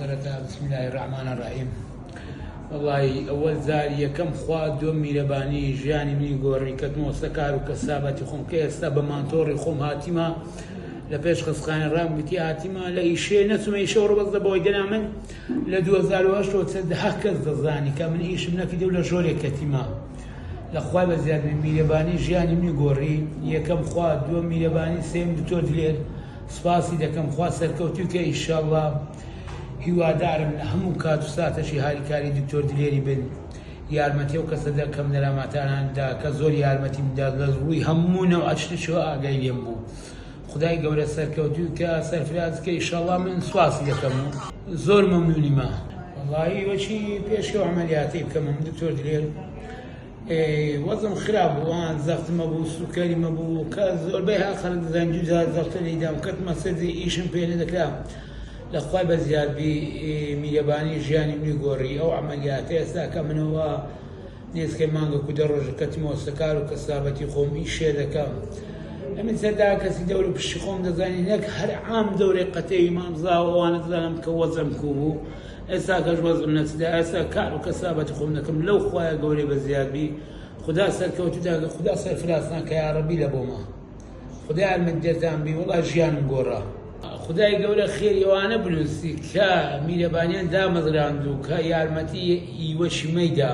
سەرەتا بسم اللە الرحمن الرحیم وەڵایی ئەوەل جار یەکەم خوا دۆ میرەبانی ژیانی منی گۆڕی کەتمەوە سە کار و کەسابەتی خۆم کە ئێستا بە مانتۆڕی خۆم هاتیمە لە پێش خستخانە ڕام گوتی هاتیمە لە ئیشێ نەچمە ئیشەوە ڕبەز لە بۆی دەنا من لە 2010 کەس دەزانی کە من ئیشم نەکردی و لە ژۆرێک کەتیمە لەخوای بە زیاد میرەبانی ژیانی منی گۆڕی یەکەم خوا دووە میرەبانی سێم دکتۆر دلێر سپاسی دەکەم خوا سەرکەوتوی کە ئیشەڵا هیوادارم لە هەموو کات و ساتەشی هاریکاری دکتۆر دلێری بن یارمەتی ئەو کەسە دە کەم نەراماتانان دا کە زۆر یارمەتیم دا لە ڕووی هەموو نەو ئەچتشەوە ئاگای لێم بوو خدای گەورە سەرکەوتوی کە سەرفراز کە ئیشەڵا من سپاسی دەکەم و زۆر مەمنونی ما وەڵایی وەچی پێش ئەو عەمەلیاتەی بکەم دکتۆر دلێر وەزم خراپ بوو ئان زەخت مەبوو سوکەری مەبوو کە زۆربەی ها خەرک زەنجی جار زەختە لیدام کەتمە سەدی ئیشم پێ نەدەکرا لە خوای بە زیادبی میرەبانی ژیانی منی گۆڕی ئەو عملیاتە ئێستا کە منەوە نێزکە مانگە کو دە ڕۆژە کەتمەوە سەکار و کەسابەتی خۆم ئیشێ دەکەم ئەمن سەردا کەسی دەور و پشتی خۆم دەزانی نەک هەر عام دەورێ قەتێوی مامزاوە ئەوانە دەزانم کە وەزم کو بوو ئێستا کەش وەزعم نەچدا ئێستا کار و کەسابەتی خۆم دەکەم لەو خوایە گەورەی بە زیاد بی خودا سەرکەوتوتان کە خودا سەرفرازتان کە یاڕەبی لە بۆمە خودا یارمەتیدەرتان بی وەڵا ژیانم گۆڕا خدای گەورە خێری ئەوانە بنووسی کە میرەبانیان دامەزراند و کە یارمەتی ئیوەشی مەیدا